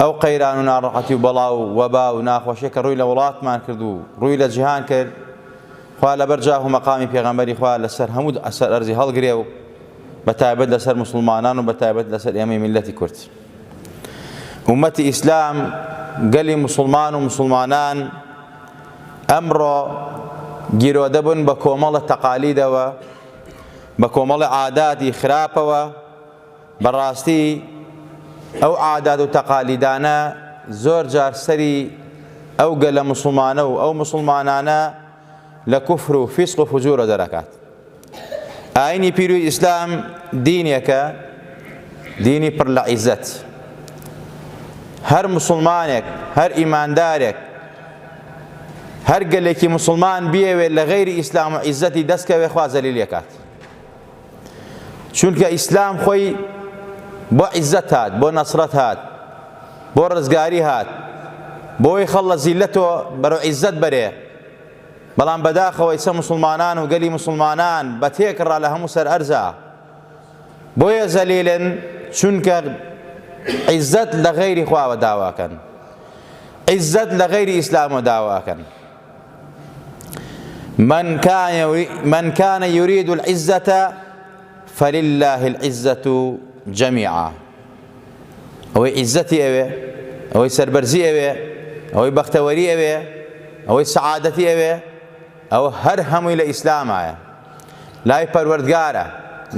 ئەو قەیران و ناڕەحەتی و بەڵا و وەبا و ناخۆشیە کە ڕووی لە وڵاتمان کرد و ڕووی لە جیهان کرد خوا لەبەر جاه و مەقامی پێغەمبەری خوا لەسەر هەموو ئەسەر ئەرزی هەڵگرێ و بە تایبەت لەسەر مسلمانان و بە تایبەت لەسەر ئێمەی میلەتی کورد ئومەتی ئیسلام گەلی مسلمان و مسلمانان ئەمڕۆ گیرۆدە بوون بە کۆمەڵە تەقالیدەوە بە کۆمەڵە عاداتی خراپەوە بەڕاستی ئەو عادات و تەقالیدانە زۆر جار سەری ئەو گەلە موسڵمانە و ئەو موسڵمانانە لە کوفر و فیسق و فجورە دەرەکات. ئاینی پیروی ئیسلام دینێکە دینی پڕ لە عیزەت. هەر موسڵمانێک، هەر ئیماندارێک، هەر گەلێکی موسڵمان بیەوێت لە غەیری ئیسلام و عیزەتی دەست کەوێت خوا زەلیلی ئەکات. چونکە ئیسلام خۆی بۆ عیزەت هات بۆ نەسرەت هات بۆ ڕزگاری هات بۆی خەڵ لە زیلەتۆ بەرەو عیزەت بەرێ بەڵام بەداخەوە ئیسە مسلمانان و گەلی مسلمانان بە تێکڕا لە هەموو سەر ئەرزا بۆیە زەلیلن چونکە عیزەت لە غەیری خواوە داواکەن عیزەت لە غەیری ئیسلامە داواکەن من كان من كان يريد العزة فلله العزة جميعا ئەوەی عیزەتی ئەوێ ئەوەی سەربەرزی ئەوێ ئەوەی بەختەوەری ئەوێ ئەوەی سەعادەتی ئەوێ ئەوە هەر هەمووی لە ئیسلامایە لای پەروەردگارە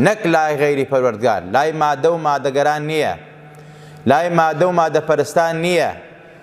نەک لای غەیری پەروەردگار لای مادە و مادەگەران نییە لای مادە و مادەپەرستان نییە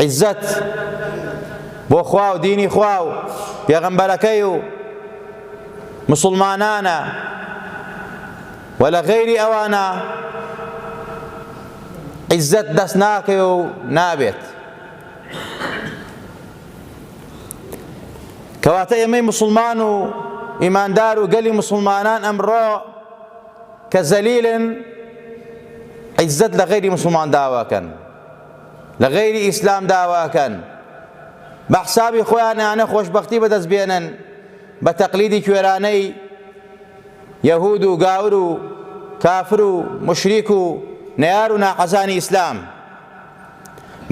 عیزەت بۆ خوا و دینی خوا و پێغەمبەرەکەی و مسلمانانە و لە غەیری ئەوانە عیزەت دەست ناکەی و نابێت کەواتە ئێمەی مسلمان و ئیماندار و گەلی مسلمانان ئەمڕۆ کە زەلیلن عیزەت لە غەیری موسڵمان داواکەن لە غەیری ئیسلام داواکەن بە حسابی خۆیانانە خۆشببختی بەدەست بێنن بە تەقلیدی کوێرانەی یەهود و گاور و کافر و مشریک و نەار و ناحەزانی ئیسلام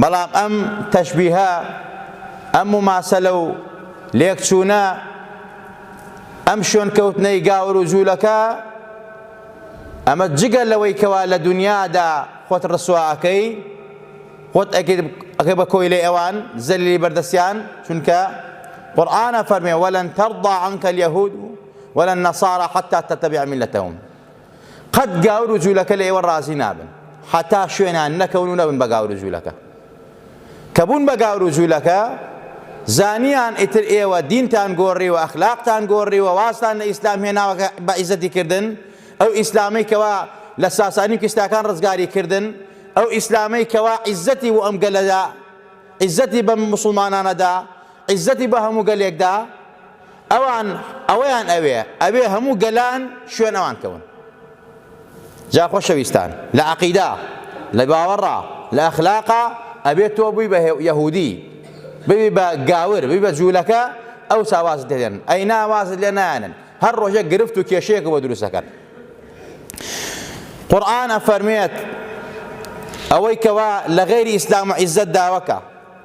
بەڵام ئەم تەشبیهە، ئەم موماسەلە و لێکچوونە، ئەم شوێنکەوتنەی گاور و جوولەکە، ئەمە جگە لەوەی کەوا لە دونیادا خۆت ڕسوا ئەکەی، خۆت ئەکەی بە کۆیلەی ئەوان، زەلیلی بەردەستیان، چونکە قورئان ئەفەرموێ ولن ترضی عنک الیهود ولنصاری حتی تتبع ملتهم. قەت گاور و جولەکە لە ئێوە ڕازی نابن حەتا شوێنان نەکەون و نەبن بە گاور و جولەکە کە بوون بە گاور و جولەکە زانیان ئیتر ئێوە دینتان گۆڕی و ئەخلاقتان گۆڕی و واستان لە ئیسلام هێناوە بە عیزەتی کردن ئەو ئیسلامی کەوا لە ساسانی کستاکان ڕزگاری کردن ئەو ئیسلامەی کەوا عیزەتی و ئەم گەلەدا عیزەتی بە مسلمانانەدا عیزەتی بە هەموو گەلێکدا ئەوان ئەوەیان ئەوێ ئەبێ هەموو گەلان شوێن ئەوان کەون جا خۆشەویستان لە عەقیدا لە باوەڕا لە ئەخلاقا ئەبێ تۆ بووی بە یەهودی ببی بە گاور ببی بە جوولەکە ئەو ساواز دێن ئەی ناوازت لێ نایەنن هەر ڕۆژێک گرفت و کێشەیەک بۆ دروستەکەن قورآن ئەفەرمێت ئەوەی کەوا لە غەیری ئیسلام و عیزەت داوەکە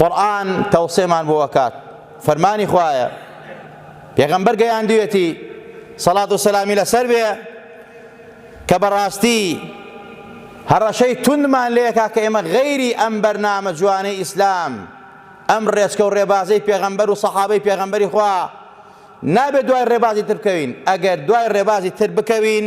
قورئان تەوسێمان بۆ ئەکات فەرمانی خوایە پێغەمبەر گەیاندوێتی سەڵات و سەلامی لەسەر بێ کە بەڕاستی هەڕەشەی توندمان لێکا کە ئێمە غەیری ئەم بەرنامە جوانەی ئیسلام ئەم ڕێچکە و ڕێبازەی پێغەمبەر و سەحابەی پێغەمبەری خوا نابێت دوای ڕێبازی تر بکەوین ئەگەر دوای ڕێبازی تر بکەوین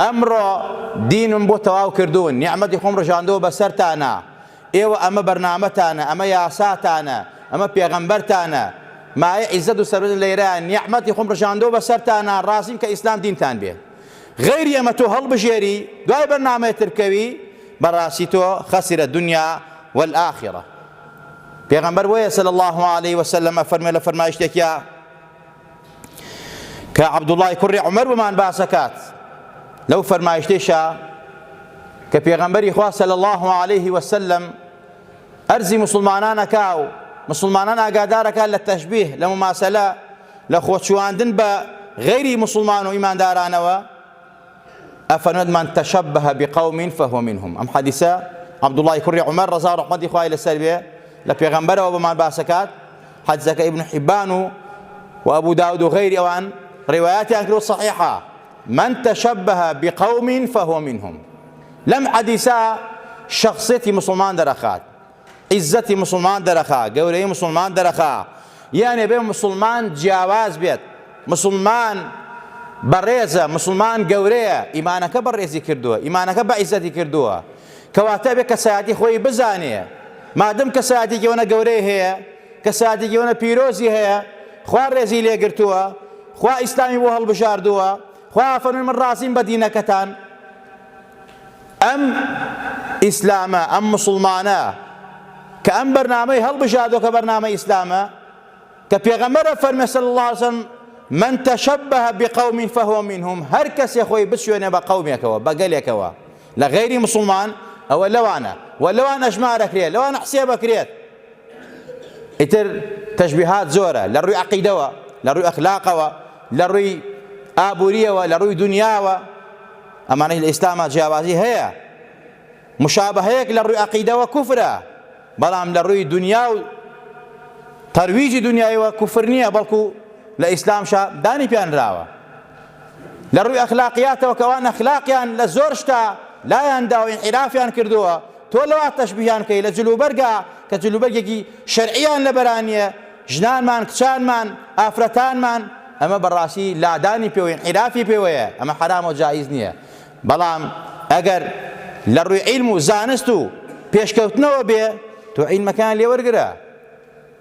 ئەمڕۆ دینم بۆ تەواو کردوون، نیعمەتی خۆم ڕژاندووە بەسەرتانا، ئێوە ئەمە بەرنامەتانە، ئەمە یاساتانە، ئەمە پێغەمبەرتانە، مایەی عیزەت و سەروەتن لێرەیە، نیعمەتی خۆم ڕژاندووە بەسەرتانا، ڕازیم کە ئیسلام دینتان بێ، غەیری ئەمە تۆ هەڵبژێری دوای بەرنامەی تر بکەوی، بەڕاستی تۆ خسر الدنیا والآخرە. پێغەمبەر بۆیە صلی اللە علیە وسلم ئەفەرموێ لە فەرمایشتێکیا، کە عەبدوڵڵای کوڕی عومەر بۆمان باس ئەکات لەو فەرمایشتەیشا کە پێغەمبەری خوا صلی الله علیه و سلم ئەرزی مسلمانان ئەکا و مسلمانان ئاگادارەکە لە تەشبیه لە مماسەلە لە خۆچواندن بە غەیری مسلمان و ئیماندارانەوە ئەفەرموێت من تەشەبه بقوم فهو منهم ئەم حەدیسە عەبدوڵڵای کوڕی عومەر ڕەزا ڕەحمەتی خوای لەسەر بێ لە پێغەمبەرەوە بەمان باسەکات حەدیسەکە ئیبن حیبان و و ئەبوو داود و غەیری ئەوان ڕیوایەتیان کرد و صحیحە من تشبه بقوم فهو منهم لەم حەدیسە شخصێتی مسلمان دەرەخات عیزەتی موسڵمان دەرەخا، گەورەیی موسڵمان دەرەخا، یان ئەبێ موسڵمان جیاواز بێت، موسڵمان بەڕێزە، موسڵمان گەورەیە، ئیمانەکە بەڕێزی کردووە، ئیمانەکە بەعیزەتی کردووە، کەواتە ئەبێ کەسایەتی خۆی بزانێ، مادەم کەسایەتێکی ئەوەنە گەورەی هەیە، کەسایەتێکی ئەوەنە پیرۆزی هەیە، خوا ڕێزی لێگرتووە، خوا ئیسلامی بۆ هەڵبژاردووە، خوایە فەرمووی من ڕازیم بە دینەکەتان ئەم ئیسلامە ئەم موسڵمانە کە ئەم بەرنامەی هەڵبژاردۆ کە بەرنامە ئیسلامە کە پێغەمبەرە فەرمێ صلی الله علیه وسلم من تشبه بقوم فهو منهم هەر کەسێ خۆی بچێنێ بە قەومێکەوە بە گەلێکەوە لە غەیری موسڵمان ئەوە لەوانە وە لەوان ئەژمار ئەکرێت لەوان حسێب ئەکرێت ئیتر تەشبیهات زۆرە لە ڕووی عەقیدەوە لە ڕووی ئەخلاقەوە لە ڕووی ئابووریەوە لە ڕووی دنیاوە ئەمانەی لە ئیسلاما جیاوازی هەیە مشابهەیەک لە ڕووی عەقیدەوە کوفرە بەڵام لە ڕووی دونیا و تەرویجی دونیایەوە کوفر نییە بەڵکو لە ئیسلامشا دانی پیانراوە لە ڕووی ئەخلاقیاتەوە کە ئەوان ئەخلاقیان لە زۆر شتا لایان داوە ئینحرافیان کردووە تۆ لەوە تەشبیهیان کەی لە جلوبەرگا کە جلوبەرگێکی شەرعیان لەبەرانیە ژنانمان کچانمان ئافرەتانمان ئەمە بەڕاستی لادانی پێوەی عیرافی پێوەیە ئەمە حرام و جایز نییە بەڵام ئەگەر لە ڕووی عیلم و زانست و پێشکەوتنەوە بێ تۆ عیلمەکەیان لێ وەرگرە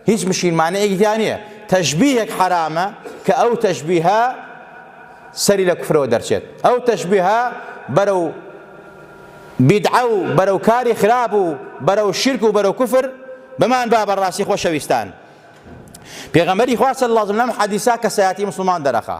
هیچ مشکیل مانعێکی تیا نیە تەشبیهێک حەرامە کە ئەو تەشبیهە سەری لە کوفرەوە دەرچێت ئەو تەشبیهە بەرەو بیدعە و بەرەو کاری خراپ و بەرەو شرک و بەرەو کوفر بمان با بەڕاستی خۆشەویستان پێغەمبەری خوا صلی الله علیه و سلم حدیثا کەسایەتی مسلمان دەرەخا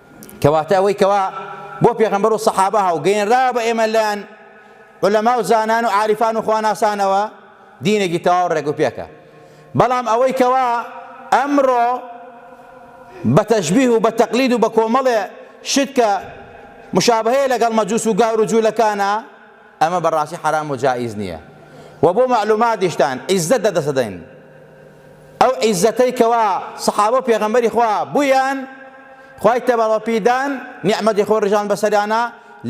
کەواتە ئەوەی کەوا بۆ پێغەمبەر و سەحابە هاو گەینراوە بە ئێمە لەیان علەما و زانان و عارفان و خواناسانەوە دینێکی تەواو ڕێگ و پێکە بەڵام ئەوەی کەوا ئەمڕۆ بە تەشبیه و بە تەقلید و بە کۆمەڵێ شت کە مشابهەیە لەگەڵ مەجوس و گاور و جوولەکانە ئەمە بەڕاستی حەرام و جائیز نیە وە بۆ مەعلوماتیشتان عیزەت لە دەست ئەدەین ئەو عیزەتەی کەوا سەحابە و پێغەمبەری خوا بویان خوای تەبەڕ وە پیدان نیعمەتی خۆ ڕژان بەسەریانا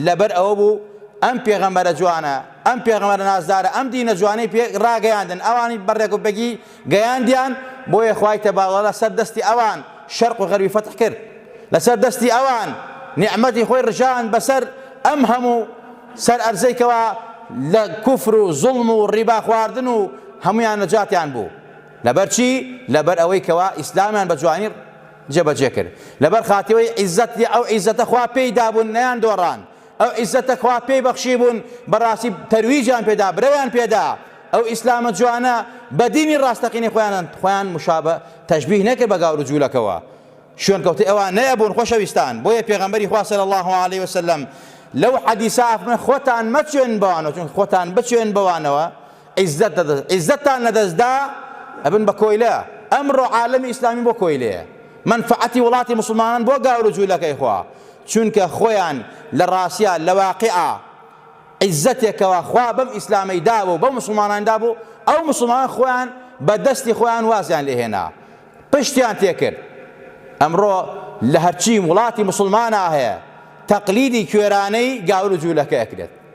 لەبەر ئەوە بوو ئەم پێغەمبەرە جوانە ئەم پێغەمبەرە نازدارە ئەم دینە جوانەی پێ ڕاگەیاندن ئەوانی بەڕێک و پێکی گەیاندیان، بۆیە خوای تەبارەکاللە لە سەر دەستی ئەوان شەرق و غەربی فەتح کرد، لە سەر دەستی ئەوان نیعمەتی خۆی ڕژاند بە سەر ئەم هەموو سەر ئەرزەی کەوا لە کوفر و زوڵم و ڕیبا خواردن و هەموویان نەجاتیان بوو لەبەر چی؟ لەبەر ئەوەی کەوا ئیسلامیان بە جوانی جێ بەجێ کرد لەبەر خاتیەوەی عیزەت ئەو عیزەتە خوا پێی دابوون نەیان دۆڕاند. ئەو عیزەتە خوا پێی بەخشیبوون بەڕاستی تەرویجیان پێدا برەویان پێدا ئەو ئیسلامە جوانە بە دینی ڕاستەقینەی خۆیانن خۆیان مشابە تەشبیه نەکرد بە گاور و جوولەکەوە شوێنکەوتەی ئەوان نەیەبوون خۆشەویستان بۆیە پێغەمبەری خوا صلی الله علیه وسلم لەو حەدیسە ئەفەرمێ خۆتان مەچێن بەوانەوە چونکە خۆتان بچێن بەوانەوە عیززەتتان لەدەستدا ئەبن بە کۆیلە ئەمڕۆ عالەمی ئیسلامی بۆ کۆیلەیە مەنفەعەتی وڵاتی موسڵمانان بۆ گاورو جولەکەی خوا چونکە خۆیان لە ڕاستیا لە واقیعا عیززەتێکەوە خوا بەم ئیسلامەی دابوو و بەو موسڵمانان دابوو ئەو موسڵمانان خۆیان بە دەستی خۆیان وازیان لێهێنا پشتیان تێکرد ئەمڕۆ لە هەرچی وڵاتی موسڵمانا هەیە تەقلیدی کوێرانەی گاورو جولەکە ئەکرێت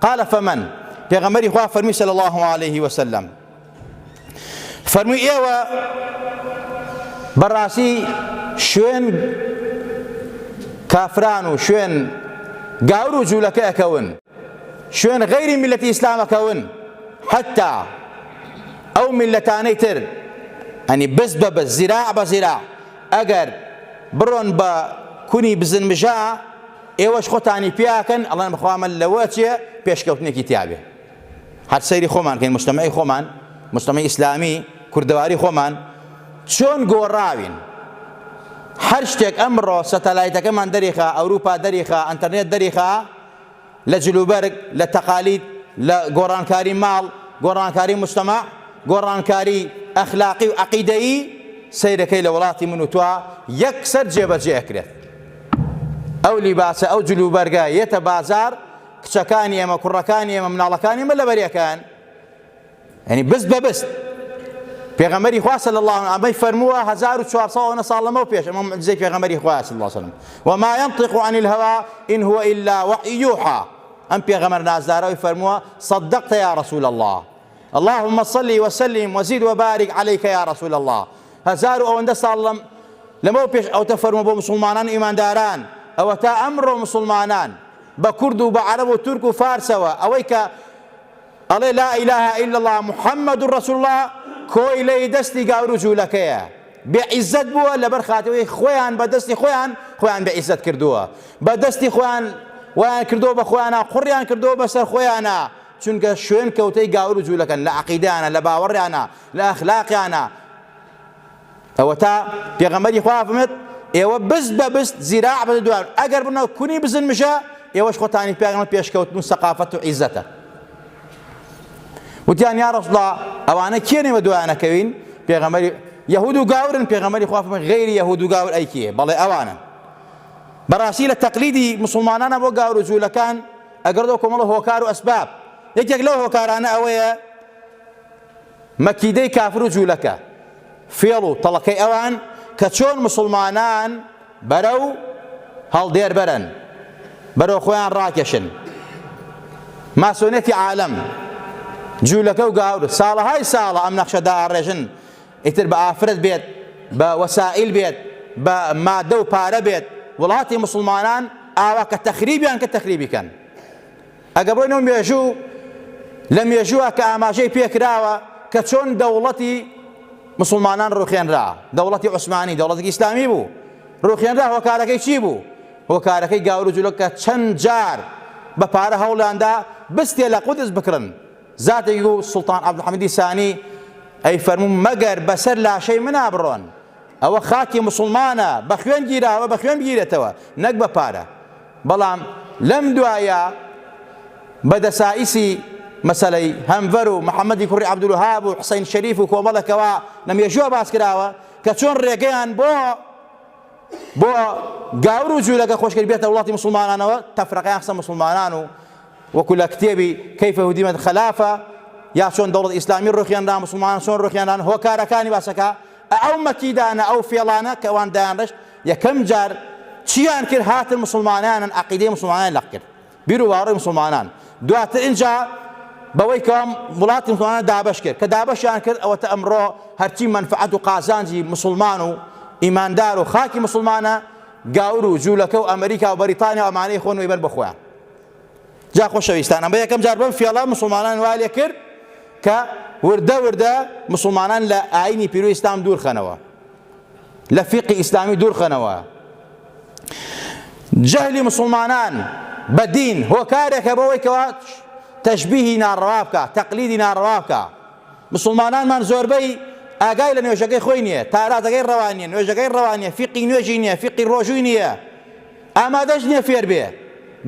قال فمن پێغەمبەری خوا فەرمی صلی الله علیه و سلم فەرمی ئێوە بەڕاستی شوێن کافران و شوێن گاور و جوولەکە ئەکەون شوێن غەیری میلەتی ئیسلامەکەون حتا ئەو میلەتانەی تر ئەنی بز بە بز زیرا بە زیرا ئەگەر بڕۆن بە کونی بزنمژە ئێوەش خۆتانی پێ ئەکەن ئەڵێن بەخوا ئەمە لەوە چیە پێشکەوتنێکی تیابێ هەر سەیری خۆمان کەین مجتەمەعی خۆمان مجتەمەعی ئیسلامی کوردەواری خۆمان چۆن گۆڕاوین هەر شتێک ئەمڕۆ سەتەلایتەکەمان دەریخا ئەوروپا دەریخا ئەنتەرنێت دەریخا لە جلوبەرگ لە تەقالید لە گۆڕانکاری ماڵ گۆڕانکاری مجتەمە گۆڕانکاری ئەخلاقی و عقیدەیی سەیرەکەی لە وڵاتی من و توا یەکسەر جێبەجێ ئەکرێت ئەو لیباسە ئەو جلوبەرگە یەتە بازار کچەکانی ئێمە کوڕەکانی ئێمە مناڵەکانی ئمە لەبەرەکەن ینی بز بە بست پێغەمەری خواسە لە الله ئەمەی فەرمووە 1400 ساڵ لەمە پێش ئەمە زەی پێغەمەری خواست الله وسلم وما ينطق عن الهوى إن هو إلا وحي يوحى ئەم پێغەمەر نازدارەوەی فەرمووە صدقت يا رسول الله اللهم صلی و سلم و زد وبارک علیک یا رسول اللە هەزار و ئەوەندە ساڵ لەم لەمەو پێش ئەوتە فەرموو بۆ موسڵمانان و ئیمانداران ئەوەتا ئەمڕۆ موسڵمانان بە کورد و بە عەرەب و تورک و فارسەوە ئەوەی کە ئەڵێ لا اله الا الله محمد رسول الله کۆیلەی دەستی گاور و جوولەکەیە بێعیزەت بووە لەبەر خاتەوەی خۆیان بە دەستی خۆیان خۆیان بێعیزەت کردووە بە دەستی خۆیان وایان کردو بە خۆیانە قڕیان کردو بەسەر خۆیانە چونکە شوێن کەوتەی گاور و جولەکەن لە عەقیدەیانە لە باوەڕیانە لە ئەخلاقیانە ئەوەتا پێغەمبەری خوا فەرمێت ئێوە بست بە بست زیراع بە دوار ئەگەر بنە کونی بزن مژە ئێوەش خۆتانی پێغەمبەر پێشکەوتن و سەقافەت و عیزەتە وتیان یا رسول الله ئەوانە کێنێ بە دوایانە کەوین پێغەمبەری یهود و گاورن پێغەمبەری خوا فەرمێت غیری یهود و گاور ئەی کیه بەڵێ ئەوانن بەڕاستی لە تەقلیدی مسلمانانە بۆ گاور و جوولەکان ئەگەڕ لەو کۆمەڵە هۆکار و ئەسباب، یەکێک لەو هۆکارانە ئەوەیە مەکیدەی کافر و جوولەکە، فێڵ و تەڵەکەی ئەوان کە چۆن موسڵمانان بەرەو هەڵدێر بەرن، بەرەو خۆیان ڕاکێشن. ماسۆنێتی عالەم، جوولەکە و گاور ساڵەهای ساڵە ئەم نەخشە دائەڕێژن ئیتر بە ئافرەت بێت، بە وەسائیل بێت، بە مادە و پارە بێت، وڵاتی موسڵمانان ئاوا کە تەخریبیان کرد تەخریبی کەن. ئەگەر بڕۆینەوە مێژوو، لە مێژووە کە ئاماژەی پێکراوە کە چۆن دەوڵەتی مسلمانان ڕوخێنرا، دەوڵەتی عوسمانی دەوڵەتێکی ئیسلامی بوو، ڕوخێنرا هۆکارەکەی چی بوو؟ هۆکارەکەی گاور و جولەکە چەند جار بە پارە هەوڵیاندا بستێ لە قودس بکڕن، زاتێکی گو سوڵتان عەبدولحەمیدی سانی، ئەی فەرموو مەگەر بەسەر لاشەی منا بڕۆن؟ ئەوە خاکی موسڵمانە بە خوێن گیراوە بە خوێن بگیرێتەوە نەک بە پارە. بەڵام لەم دوایە بە دەسائیسی مەسەلەی هەنڤەر و محەمەدی کوڕی عەبدولوەهاب و حسەین شەریف و کۆمەڵێکەوە لە مێژووە باس کراوە کە چۆن ڕێگەیان بۆ بۆ گاور و جولەکە خۆشکرد بێتە وڵاتی موسڵمانانەوە تەفرەقەیان خستە موسڵمانان و وەکو لە کتێبی، کیف هدمت خلافە، یا چۆن دەوڵەت ئیسلامی ڕوخێنرا، موسڵمانان چۆن ڕوخێنران، هۆکارەکانی باسەکا، ئەو مەکیدانە، ئەو فێڵانە کە ئەوان دایانڕشت، یەکەم جار چیان کرد، هاتن موسڵمانانن عەقیدەی موسڵمانان لەق کرد، بیرو باوەڕی موسڵمانان، دواتر ئینجا بەوەی کەوا وڵاتی موسڵمانان دابەش کرد، کە دابەشیان کرد ئەوەتە ئەمڕۆ هەرچی مەنفەعەت و قازانجی موسڵمان و ئیماندار و خاکی موسڵمانە گاور و جولەکە و ئەمریکا و بەریتانیا و ئەمانەی خۆن و ئەیبەن بۆ خۆیان. جا خۆشەویستانم بە یەکەم جار بەم فێڵە مسلمانان وا لێ کرد کە وردە وردە مسلمانان لە ئاینی پیرو ئیسلام دوورخەنەوە لە فیقی ئیسلامی دوورخەنەوە جەهلی مسلمانان بە دین هۆکارێکە بەوەی کەوا تەشببیهی ناڕوا بکە تەقلیدی ناڕوا بکە مسلمانانمان زۆربەی ئاگای لە نوێژەکەی خۆی نییە تارازەکەی ڕەوانیە نوێژەکەی ڕەوانیە فیقی نوێژی نییە فیقی ڕۆژووی نییە ئامادەش نییە فێر بێ.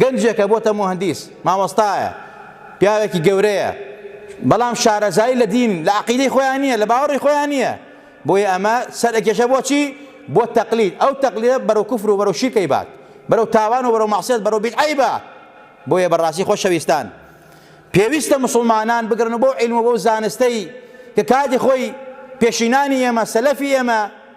گەنجێکە بۆتە موهەندیس، مامۆستایە، پیاوێکی گەورەیە، بەڵام شارەزایی لە دین، لە عەقیدەی خۆیان نییە، لە باوەڕی خۆیان نییە. بۆیە ئەمە سەرئەکێشە بۆ چی؟ بۆ تەقلید. ئەو تەقلیدە بەرەو کوفر و بەرەو شیرک ئەیبات. بەرەو تاوان و بەرەو مەعسیەت، بەرەو بیدعە ئەیبات. بۆیە بە ڕاستی خۆشەویستان، پێویستە موسڵمانان بگەڕێن و بەو عیلم و بەو زانستەی کە کاتی خۆی پێشینانی ئێمە، سەلەفی ئێمە،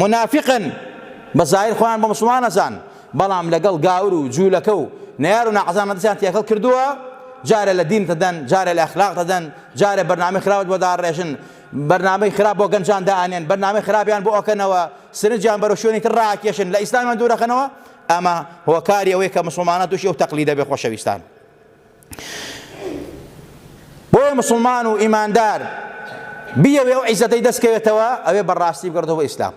مونافیقن بە زاهیر خۆیان بە موسڵمان ئەزان بەڵام لەگەڵ گاور و جوولەکە و نەیار و ناحەزانە دەستیان تێکەڵ کردووە جارێ لە دین دەدەن جارێ لە ئەخلاق دەدەن جارێ بەرنامەی خراپت بۆ داڕێژن بەرنامەی خراپ بۆ گەنجان دائەنێن بەرنامەی خراپیان بۆ ئەکەنەوە سرنجیان بەرەو شوێنی تر ڕاکێشن لە ئیسلامیان دوورەخەنەوە ئەمە هۆکاری ئەوەیە کە مسوڵمانان تووشی ئەو تەقلیدە بێ خۆشەویستان بۆیە مسلمان و ئیماندار بیەوێ ئەو عیزەتەی دەستکەوێتەوە ئەوێ بەڕاستی بگەڕێتەوە بۆ ئیسلام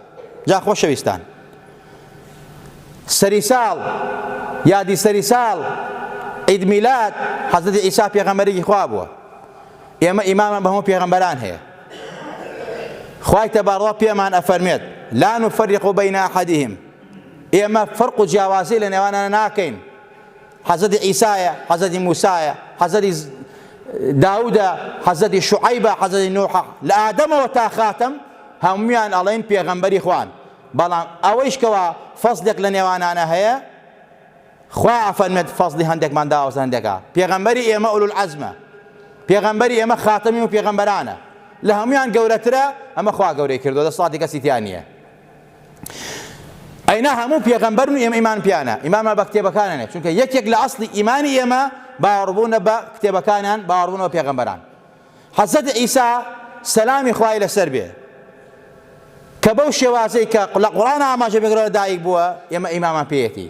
جا خۆشەویستان سەری ساڵ یادی سەری ساڵ عید میلاد حەزرەتی عیسا پێغەمبەرێکی خوا بووە ئێمە ئیمامان بە هەموو پێغەمبەران هەیە خوای تەباڕوا پێمان ئەفەرمێت لا نفرق بین احدهم ئێمە فەرق و جیاوازی لە نێوانە ناکەین حەزرەتی عیسایە حەزرەتی موسایە حەزرەتی داودە حەزرەتی شعیبە حەزرەتی نوحە لە ئادەمەوە تا خاتم هەمویان ئەڵێن پێغەمبەری خوان بەڵام ئەوەیش کەوا فەزلێک لە نێوانانە هەیە خوا ئەفەرمێت فەزلی هەندێکمان داوەز هەندێکا پێغەمبەری ئێمە ئولو العزمە پێغەمبەری ئێمە خاتەمی و پێغەمبەرانە لە هەمویان گەورەترە ئەمە خوا گەورەی کردو دەسڵاتی کەسی تیا نییە ئەینا هەموو پێغەمبەرن و ئێمە ئیمان پیانە ئیمانمان بە کتێبەکانانێ چونکە یەکێک لە ئەسڵی ئیمانی ئێمە باوەڕبوونە بە کتێبەکانان باوەڕبوونەوە پێغەمبەران حەزەت ئیسا سەلامی خوای لەسەر بێ کە بەو شێوازەی کە لە قوڕان ئاماژە بگرەوە دایک بووە ئێمە ئیمامان پێیەتی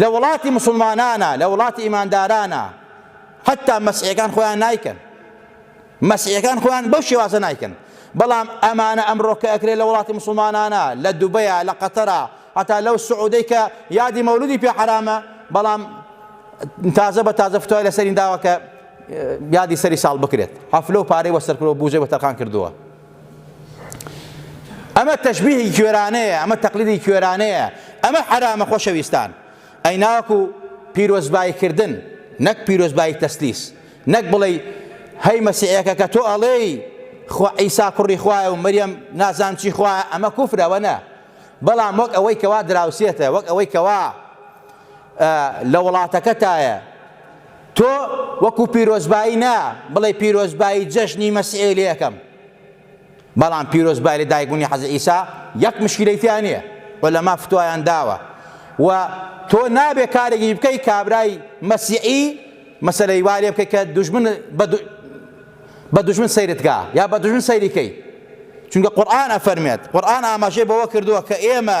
لە وڵاتی موسڵمانانا لە وڵاتی ئیماندارانا حەتا مەسیحەکان خۆیان نایکەن مەسیحەکان خۆیان بەو شێوازە نایکەن بەڵام ئەمانە ئەمڕۆکە ئەکرێت لە وڵاتی موسڵمانانە لە دوبەیە لە قەتەرە هەتا لەو سعودەی کە یادی مەولودی پێ حرامە بەڵام تازە بە تازە فتوای لەسەرین داوە کە یادی سەری ساڵ بکرێت حەفلە و پارەی وەسەرکرۆ بوزەی وەتەرخان کردووە ئەمە تەشبیهی کوێرانەیە ئەمە تەقلیدی کوێرانەیە ئەمە حەرامە خۆشەویستان ئەی ناوەکو پیرۆزباییکردن نەک پیرۆزبایی تەسلیس نەک بڵێ هەی مەسیحەکە کە تۆ ئەڵێی خۆ عیسا کوڕی خوایە و مریەم نازان چی خوە ئەمە کوفرەوە نە بەڵام وەک ئەوەی کەوا دراوسێتە وەک ئەوەی کەوا لە وڵاتەکەتایە تۆ وەکو پیرۆزبایی نا بڵێ پیرۆزبایی جەژنی مەسیحی لێ ئەکەم بەڵام پیرۆزبایی لە دایکبوونی حەزی ئیسا یەک مشکلەی تیا نییە و لە ما فتوایان داوە و تۆ نابێ کارێکی بکەی کابرای مەسیحی مەسەلەی وا لێ بکەی کە دوژمن بە دوژمن سەیرتگا یا بە دوژمن سەیریکەی چونکە قورآن ئەفەرمێت قورآن ئاماژەی بەوە کردووە کە ئێمە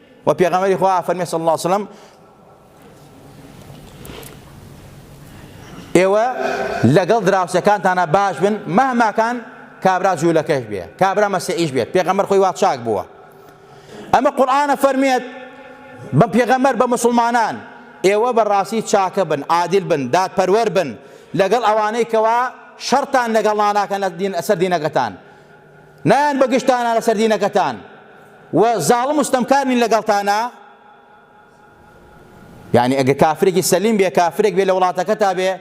وە پێغەمبەری خوا فەرمی صلی اللە وسلم ئێوە لەگەڵ دراوسەکانتانە باش بن مەهماکان کابرا جوولەکەش بێ کابرا مەسیعیش بێت پێغەمبەر خۆی وا چاک بووە ئەمە قورآانە فەرمێت بە پێغەمبەر بە مسلمانان ئێوە بەڕاستی چاکە بن عادل بن دادپەروەر بن لەگەڵ ئەوانەی کەوا شەرتان لەگەڵ ناناکەن لە دین ئەسەر دینەکەتان نایەن بە گشتانا لەسەر دینەکەتان و زاڵم و ستەمکار نین لەگەڵتانا یعنی ئەگە کافرێکی سەلیم بێ کافرێک بێ لە وڵاتەکە تا بێ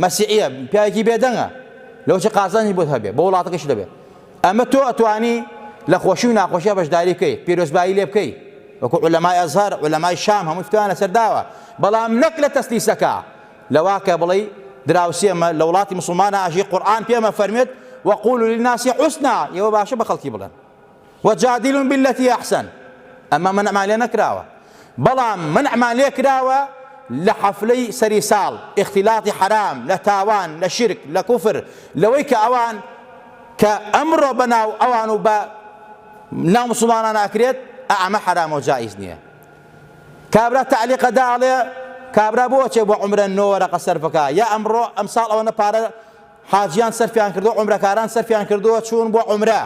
مەسیعە پیاوێکی بێدەنگە لەوچ قازانی بۆت هەبێ بۆ وڵاتەکەش دەبێ ئەمە تۆ ئەتوانی لە خۆشی و ناخۆشیە بەشداری بکەیت پیرۆزبایی لێ بکەیت وەکو علەمای ئەزهر علەمای شام هەموو توانە سەرداوە بەڵام نەک لە تەسلیسەکە لەوا کە بڵێی دراوسێ مە، لە وڵاتی موسڵمانا ئەژی، قورئان پێم ئەفەرموێت، وقولوا للناس حسنا، ئێوە باشە بە خەڵکی بڵێن، وجادلهم باللتی احسن، ئەمە مەنعمان لێ نەکراوە، بەڵام مەنعمان لێ کراوە لە حەفلەی سەری ساڵ، اختلاط حرام، لە تاوان، لە شرک، لە کوفر، لەوەی کە ئەوان کە ئەمڕۆ بە ناو ئەوان و بە ناو موسڵمانان ئەکرێت، ئا ئەمە حرامە و جائیز نییە. کابرا تەعلیقە دا ئەڵێ کابرا بۆ ئەچێ بۆ عەمرە نۆ وەرەقە سەرف بکا یا ئەمڕۆ ئەمساڵ ئەوەنە پارە حاجیان سەرفیان کردووە عەمرەکاران سەرفیان کردووە چوون بۆ عەمرە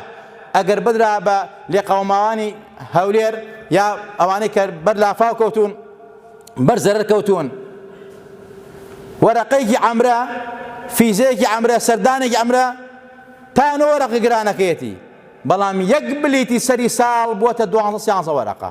ئەگەر بدرا بە لێقەوماوانی هەولێر یا ئەوانەی کە بەر لافاو کەوتون بەر زەرەر کەوتون وەرەقەیەکی عەمرە فیزەیەکی عەمرە سەردانێکی عەمرە تا نۆ وەرەقە گرانەکەیەتی بەڵام یەک بلیتی سەری ساڵ بووە تە دوانزە سیانزە وەرەقە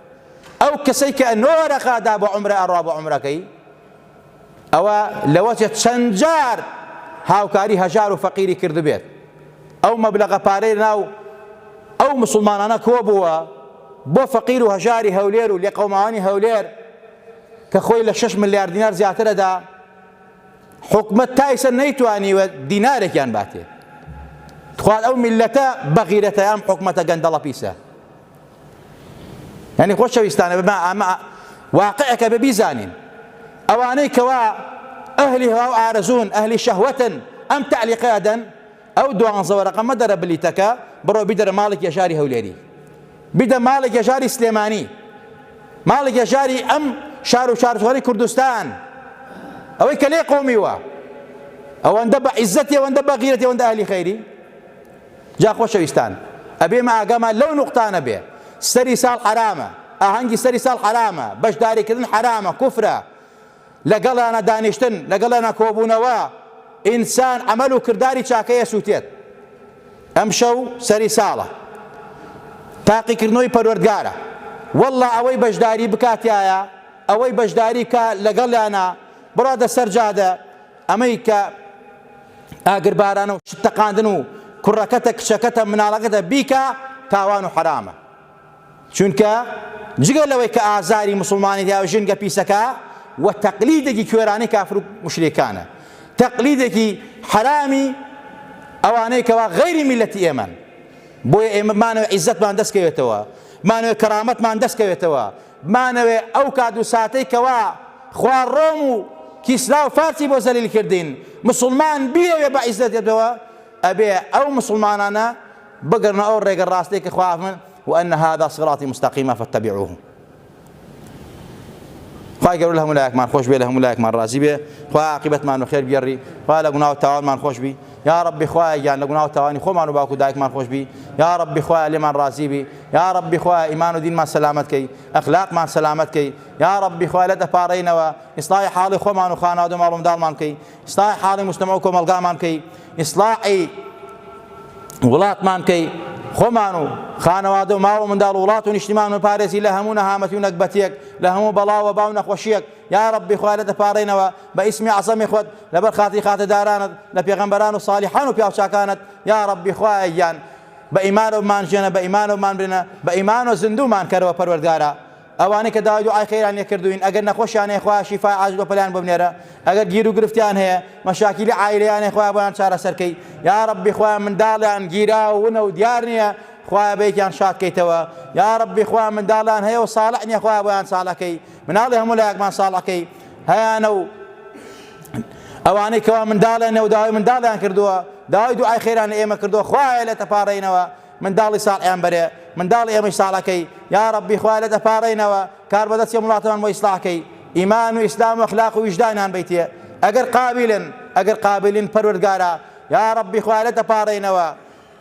ئەو کەسەی کە نۆ رەقا دا بۆ عومرە ئەڕوا بۆ عومرەکەی ئەوە لەوەچێ چەند جار هاوکاری هەژار و فەقیری کردبێت ئەو مەبلەغە پارەی ناو ئەو مسلمانانە کۆ بووە بۆ فەقیر و هەژاری هەولێر و لێقەوماوانی هەولێر کە خۆی لە 6 ملیار دینار زیاترەدا حکومت تایسە نەیتوانیوە دینارێکیان باتێ تخوات ئەو میلەتە بەغیرەتە ئەم حکومەتە گەندەڵە پیسە یانی خۆشەویستانە بە ئەمە واقعەکە بە بیزانین ئەوانەی کەوا ئەهلی هەوا و ئارەزوون ئەهلی شەهوەتن ئەم تعلیقە ئەدەن ئەو دوانزەوە رەقەمە دەرە بلیتەکە بڕۆ بیدەرە ماڵێک یەژاری هەولێری بیدە ماڵێک یەژاری سلێمانی ماڵێک یەژاری ئەم شار و شارژواری کوردستان ئەوەی کە لێ قۆمیوە ئەوەندە بە عیزەتی ئەوەندە بە غیرەتی ئەوەندە ئەهلی خەیری جا خۆشەویستان ئەبێ مە ئاگامان لەو نوقتانە بێ سەری ساڵ حەرامە ئاهەنگی سەری ساڵ حەرامە بەشداری کردن حەرامە کوفرە لە گەڵیانا دانیشتن لە گەڵیانا کۆبوونەوە ئینسان عەمەل و کرداری چاکەی ئەسووتێت ئەمشەو سەری ساڵە تاقیکردنەوەی پەروەردگارە واللە ئەوەی بەشداری بکاتایە ئەوەی بەشداری کا لەگەڵیانا بڕادە سەر جادە ئەمەی کە ئاگربارانە و شت تەقاندن و کوڕەکەتە کچەکەتە مناڵەکەتە بیکە تاوان و حەرامە چونکە جگە لەوەی کە ئازاری مسلمانی دا و ژنگە پیسەکە و تەقلیدێکی کوێرانەی کافر و مشریکانە تەقلیدێکی حەرامی ئەوانەی کەوا غەیری میلەتی ئێمەن بۆیە ئێمە مانەوە عیزەتمان دەستکەوێتەوە مانەوە کەرامەتمان دەستکەوێتەوە بمانەوێ ئەو کات و ساتەی کەوا خوا ڕۆم و کیسرا و فارسی بۆ زەلیل کردین مسوڵمان بیەوێ بە عیزەت بێتەوە ئەبێ ئەو مسوڵمانانە بگەڕنە ئەو ڕێگە ڕاستەی کە خوا فەرمووی وان هذا صراطی مستقیما فاتبعوه خوای گەورە لە هەموو لایەکمان خۆش بێ لە هەموو لایەکمان ڕازی بێ خوا عاقبەتمان و خێر گێڕی خوا لە گوناو تاوانمان خۆش بی یا ڕەبی خوایە گیان لە گوناو تاوانی خۆمان و باوکو دایکمان خۆش بی یا ڕەبی خوایە لێمان ڕازی بی یاڕەبی خوایە ئیمان و دینمان سەلامەت کەی ئەخلاقمان سەلامەت کەی یاڕەبی خوای لە دەپاڕێینەوە ئیسڵای حاڵی خۆمان و خانەوادە ماڵ منداڵمان کەی ئیسڵای حاڵی مستەمە و کۆمەڵگامان کەی ئیسڵاعی وڵاتمان کەی خۆمان و خانەوادە و ماڵ و منداڵ وڵات و نیشتمان و پارێزی لە هەموو نەهامەتی و نەکبەتێک لە هەموو بەڵاوە باو نەخۆشیەک یا ڕبی خوا لە دەپارڕێنەوە بە ئیسمی عزەمی خۆت لەبەر خاتی خاتەدارانت لە پێغەمبەران و ساڵحان و پیاوچکانت یا ڕبی خوایان بە ئیمانەوە بمانژێنە بە ئیمانەوە بمانمرێنە بە ئیمانەوە زیندوومان کەرەوە پەروەردگارا ئەوانەی کە داوای دوعای خێریان لێ کردووین ئەگەر نەخۆشیان هەیە خوایە شیفای عاجل بە پەلەیان بۆ بنێرە ئەگەر گیرو گرفتیان هەیە مەشاکیلی عایلەیان هەیە خوایە بۆیان چارەسەر کەی یا ربی خوایە منداڵیان گیراو ونە و دیار نییە خوایە بەیەکیان شاد کەیتەوە یا ربی خوایە منداڵیان هەیە و صالح نییە خوایە بۆیان صالح کەی مناڵی هەموو لایەکمان ساڵەکەی هەیانە و ئەوانەی کەوا منداڵیان نەوە داوای منداڵیان کردووە داوای دوعای خێران لە ئێمە کردووە خوایە لە تەپارەینەوە منداڵی ساڵیان بەرێ منداڵی ئێمەی ساڵەکەی یا ڕەبی خوا لە دەپارەینەوە کار بەدەستی وڵاتمان بۆ ئیسلاحکەی ئیمان و ئیسلام و اخلاق و ویژدانان بیتێ ئەگەر قابلن ئەگەر قابلین پەروەردگارە یا ڕەبی خوا لە دەپارەینەوە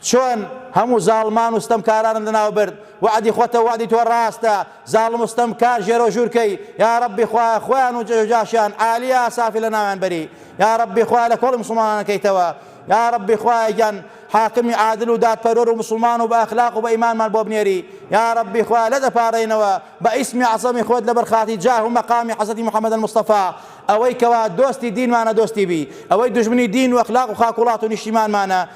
چۆن هەموو زاڵمان و ستەمکارانم لەناو برد وەعدی خۆتە وەعدی تۆ ڕاستە زاڵم و ستەم کار ژێرو ژوورکەی یاڕەبی خوایە خۆیان و جێژو جاشیان عالی ئاسافی لەناویان بەری یاڕەبی خوایە لە کۆڵی مسوڵمانان کەیتەوە یاڕەبی خوایە گیان حاکمی عادل و دادپەروەر و مسوڵمان و بە ئەخلاق و بە ئیمانمان بۆ بنێری یاڕەبی خوایە لێت ئەپارێینەوە بە ئیسمی عەزەمی خۆت لەبەر خاتری جاه و مەقامی حەزرەتی محمد المصطفی ئەوەی کەوا دۆستی دینمانە دۆستی بی ئەوەی دوژمنی دین و ئەخلاق و خاک وڵات و نیشتیمانمانە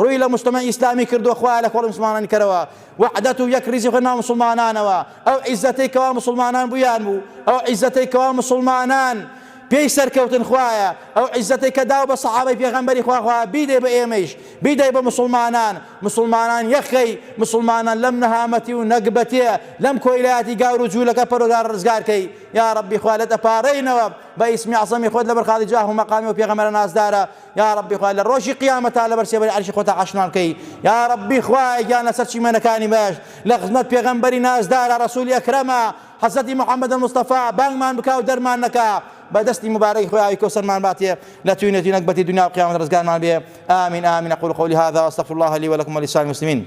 ڕووی لە موجتەمەعی ئیسلامی کردووە خوایە لە کۆڵی موسڵمانانی کەرەوە وەحدەت و یەک ڕیزی خۆی ناو موسڵمانانەوە ئەو عیزەتەی کەوا موسڵمانان بوویان بوو ئەو عیزەتەی کەوا موسڵمانان پێی سەرکەوتن خوایە ئەو عیزەتەی کە داو بە سەحابەی پێغەمبەری خوا خوا بیدەی بە ئێمەیش بیدەی بە موسڵمانان موسڵمانان یەخەی موسڵمانان لەم نەهامەتی و نەگبەتێ لەم کۆیلایەتی گاور و جوولەکە پەرۆدار ڕزگار کەی یا ڕەبی خوا لێت ئەپارێینەوە بە ئیسمی عەزەمی خۆت لەبەر خاتری جاه و مەقامی و پێغەمبەرە نازدارە یاڕەبی خوایە لە ڕۆژی قیامەتا لەبەر سێبەری عەرشی خۆتا عەشنان کەی یاڕەبی خوایە گیان لەسەر چیمەنەکانی مەش لە خزمەت پێغەمبەری نازدارە ڕەسولی ئەکرەمە حەزرەتی محمد المصطفی بانگمان بکا و دەرمان نەکا بە دەستی مبارەی خوی ئاوی کەوسەرمان باتێ لە توینە توینەک بەتی دنیا و قیامەت ڕزگارمان بێ آمین آمین أقول قولي هذا وأستغفر الله لي ولكم ولسائر المسلمين